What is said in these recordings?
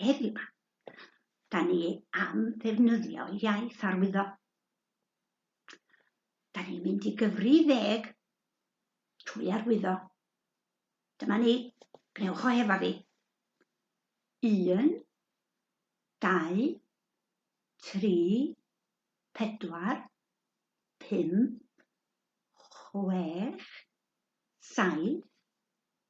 Heddiw, da ni am ddefnyddio iaith arwyddo. Da ni'n mynd i gyfri ddeg trwy arwyddo. Dyma ni, gwnewch o hefo fi. Un, dau, tri, pedwar, pum, chwech, saith,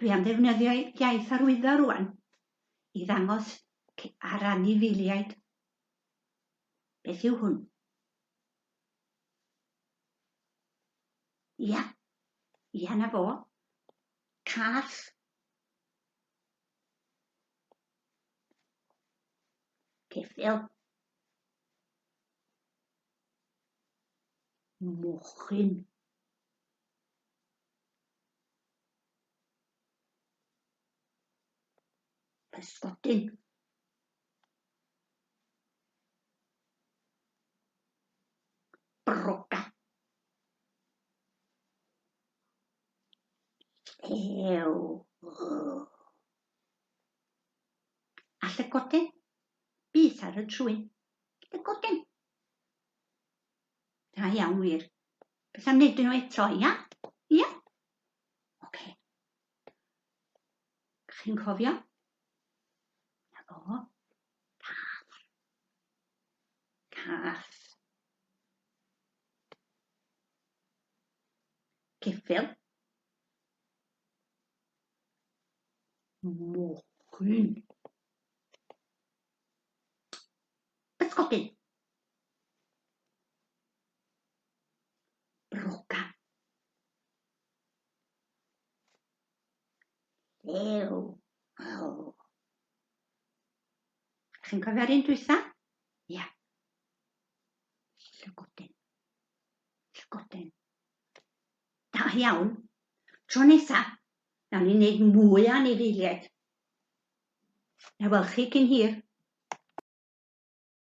Dwi am ddefnyddio iaith arwyddo rwan i ddangos ar anifeiliaid beth yw hwn. Ia, ia na fo. Cath. Ceffil. Mochyn. Pysgodyn. Broca. Ew. A llygoden? Beth ar y trwyn? Llygoden. Da iawn wir. Beth am wneud nhw eto, ia? Ia? Oce. Chi'n cofio? Na fo. Cath. Cath. Ceffil. Mochyn. Ysgogyn. Brogan. Llew. Oh. Chi'n cofio'r un dwytha? Ia. Yeah. Llygodyn. Llygodyn. Da iawn. Tro nesa, nawn ni'n neud mwy o anifeiliaid. Na wel chi cyn hir.